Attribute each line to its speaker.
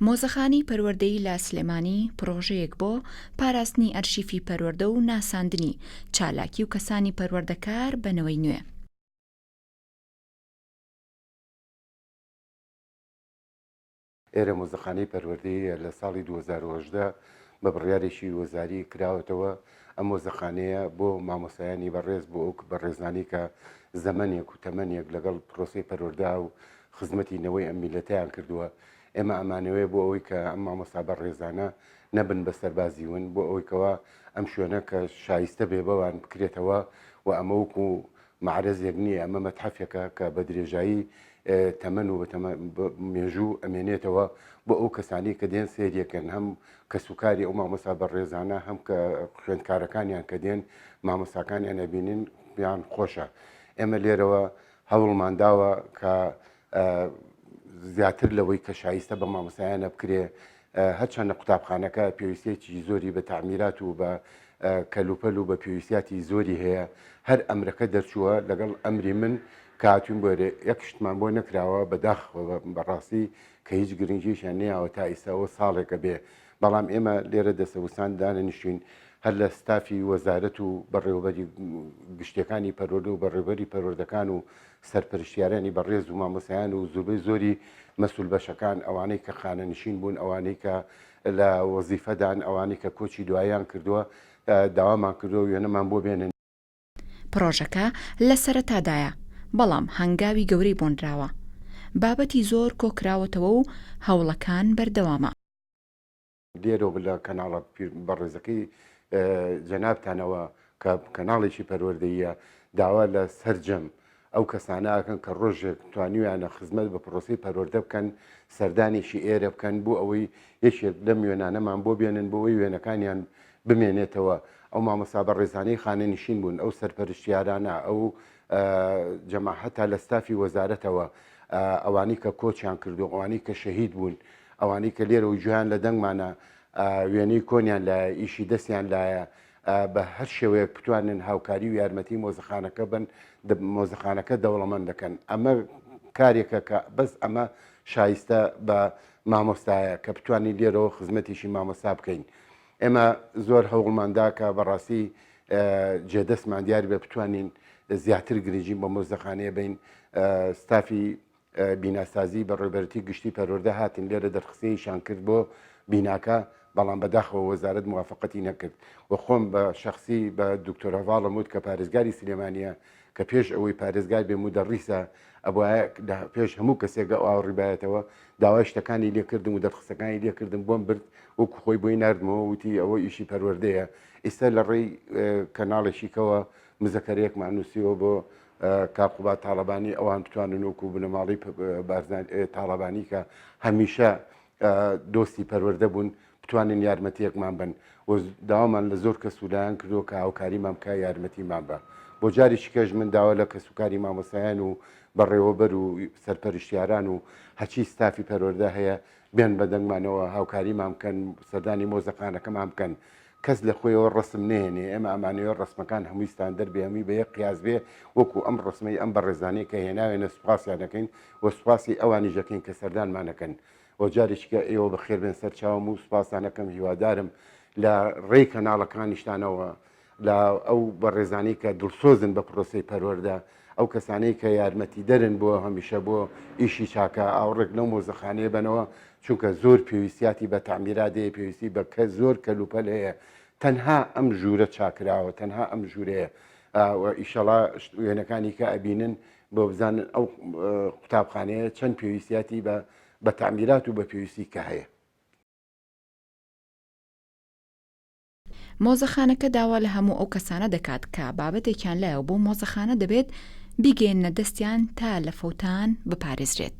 Speaker 1: مۆزەخانەی پەروەردەیی لە سلێمانی پڕۆژەیەک بۆ پاراستنی ئەرشیفی پەروەردە و ناساندنی چالاکی و کەسانی پەروەردەکار بەنەوەی نوێ
Speaker 2: ئێرە مۆزەخانەی پەروەردەیە لە ساڵی دوو هەزار و هەژدە بە بڕیارێکی وەزاری کراوەتەوە، ئەم مۆزەخانەیە بۆ مامۆستایانی بەڕێز بۆ ئەو بەڕێزانەی کە زەمەنێک و تەمەنێک لەگەڵ پڕۆسەی پەروەردە و خزمەتی نەوەی ئەم میللەتەیان کردووە، ئێمە ئەمانەوێ بۆ ئەوەی کە ئەم مامۆستا بەڕێزانە نەبن بە سەربازی ون بۆ ئەوەی کەوا ئەم شوێنە کە شایستە بێ بەوان بکرێتەوە و ئەمە وەکوو مەعرەزێک نییە، ئەمە مەتحەفێکە کە بە درێژایی تەمەن و بە مێژوو ئەمێنێتەوە بۆ ئەو کەسانی کە دێن سێریەکەن هەم کەسوکاری ئەو مامۆسا بە ڕێزانە هەم کە خوێندکارەکانیان کە دێن مامۆساکانیان ئەبینین بیان خۆشە ئێمە لێرەوە هەوڵمانداوە کە زیاتر لەوەی کە شایستە بە مامۆستایانە بکرێ هەرچەندە قوتابخانەکە پێویستێکی زۆری بە تعمیرات و بە کەلوپەل و بە پێویستیاتی زۆری هەیە هەر ئەمرەکە دەرچووە لەگەڵ ئەمری من کاتون بۆێ یەک شتمان بۆ نەکراوە بەداخ بەڕاستی کە هیچ گرنگیشیان نیاوە تا ئیساەوە ساڵێکە بێ بەڵام ئێمە لێرە دەسەوسان دانەنیشین هەر لە ستافی وەزارەت و بەڕێوەبەری گشتەکانی پەرۆدە و بەڕێوەری پەرۆردەکان و سەرپەرشتیارانی بەڕێز و مامۆسایان و زوربەی زۆری مەسول بەشەکان ئەوانەی کە خانەنشین بوون ئەوانەی کە لە وەزیفەدان ئەوانەی کە کۆچی دوایان کردووە داوامان کردووە وێنەمان بۆ بێنن پڕۆژەکە
Speaker 1: لە سەرەتادایە، بەڵام هەنگاوی گەورەی بۆ نراوە. بابەتی زۆر کۆ کراوەتەوە و هەوڵەکان بەردەوامە.
Speaker 2: لێرەوە بە لە کەناڵە بەڕێزەکەی جەنابتانەوە کە کەناڵێکی پەروەردەییە، داوا لە سەرجەم ئەو کەسانە ئەکەن کە ڕۆژێک توانیویانە خزمەت بە پرۆسەی پەروەردە بکەن سەردانێکی ئێرە بکەن بۆ ئەوەی یەکێک لەم وێنانەمان بۆ بێنن بۆ ئەوەی وێنەکانیان بمێنێتەوە ئەو مامۆستا بە ڕێزانەی خانەنشین بوون ئەو سەرپەرشتیارانە ئەو جەماحەتا لە ستافی وەزارەتەوە ئەوانی کە کۆچیان کردو ئەوانی کە شەهید بوون ئەوانی کە لێرە و گویان لە دەنگمانە وێنەی کۆنیان لە ئیشی دەستیان لایە بە هەر شێوەیەک بتوانن هاوکاری و یارمەتی مۆزەخانەکە بن مۆزەخانەکە دەوڵەمەند دەکەن ئەمە کارێکە کە بەس ئەمە شایستە بە مامۆستایە کە بتوانین لێرەوە خزمەتیشی مامۆستا بکەین ئێمە زۆر هەوڵماندا کە بەڕاستی جێدەستمان دیار بێ بتوانین زیاتر گرنگی بە مۆزەخانەیە بین ستافی بیناسازی بەڕێوبەرەتی گشتی پەروەردە هاتن لێرە دەرخستنیشان کرد بۆ بیناکە بەڵام بەداخەوە وەزارەت موافقەتی نەکرد و خۆم بە شخصی بە دکتۆر هەواڵم وت کە پارێزگاری سلێمانە کە پێش ئەوەی پارێزگار بێ مدەڕیسە ئەبە پێش هەموو کەسێکە ئەو ئاوڕیبایەتەوە داوای شتەکانی لێکردم و دەرخستەکانی لێکردم بۆم برد وەکو خۆی بۆی نردمەوە وتی ئەوە ئیشی پەروەردەیە ئیستا لە ڕێی کەناڵێکیکەوە مزەکەرێکمان نووسیەوە بۆ کا قوباد تاڵەبانی ئەوان بتوانن وکو بنەماڵی تاڵەبانی کە هەمیشە دۆستی پەروەەردە بوون بتوانن یارمەتیەکمان بن و داوامان لە زۆر کەسولایان کردو کە هاوکاریمان بکە یارمەتیمان بە بۆ جاریش کەش من داوا لە کەسوکاری مامۆسایان و بەڕێوەبەر و سەرپەرشتیاران و هەچی ستافی پەروەەردە هەیە بێن بەدەنگمانەوە هاوکاریمان بکەن سەردانی مۆزەخانەکەمان بکەن کەس لە خۆیەوە ڕەسم نەهێنێ ئێمە ئەمانەوێ ڕەسمەکان هەمووی ستاندەر بێ هەمووی بە یەک قیاس بێ وەکو ئەم ڕەسمەی ئەم بەڕێزانەی کە هێناوێنە سوپاسیان دەکەین و سوپاسی ئەوانیش دەکەین کە سەردانمان دەکەن و جارێکیکە ئێوە بەخێر بێن سەر چاوم و سوپاستان دەکەم هیوادارم لە ڕێی کەناڵەکانیشتانەوە لە ئەو بەڕێزانەی کە دڵسۆزن بە پرۆسەی پەروەردە ئەو کەسانەی کە یارمەتیدەرن بۆ هەمیشە بۆ ئیشی چاکە ئاوڕێک لەو مۆزەخانەیە بەنەوە چونکە زۆر پێویستیاتی بە تعمیرات هەیە پێویستی بە کە زۆر کەلوپەل هەیە تەنها ئەم ژوورە چاکراوە تەنها ئەم ژوورەیە ئیشەڵا وێنەکانی کە ئەبینن بۆ بزانن ئەو قوتابخانەیە چەند پێویستیاتی بە بە تعمیرات و بە پێویستی کە هەیە
Speaker 1: مۆزەخانەکە داوا لە هەموو ئەو کەسانە دەکات کە بابەتێکیان لایەوە بۆ مۆزەخانە دەبێت بیگەێنە دەستیان تا لە فەوتان بپارێزرێت.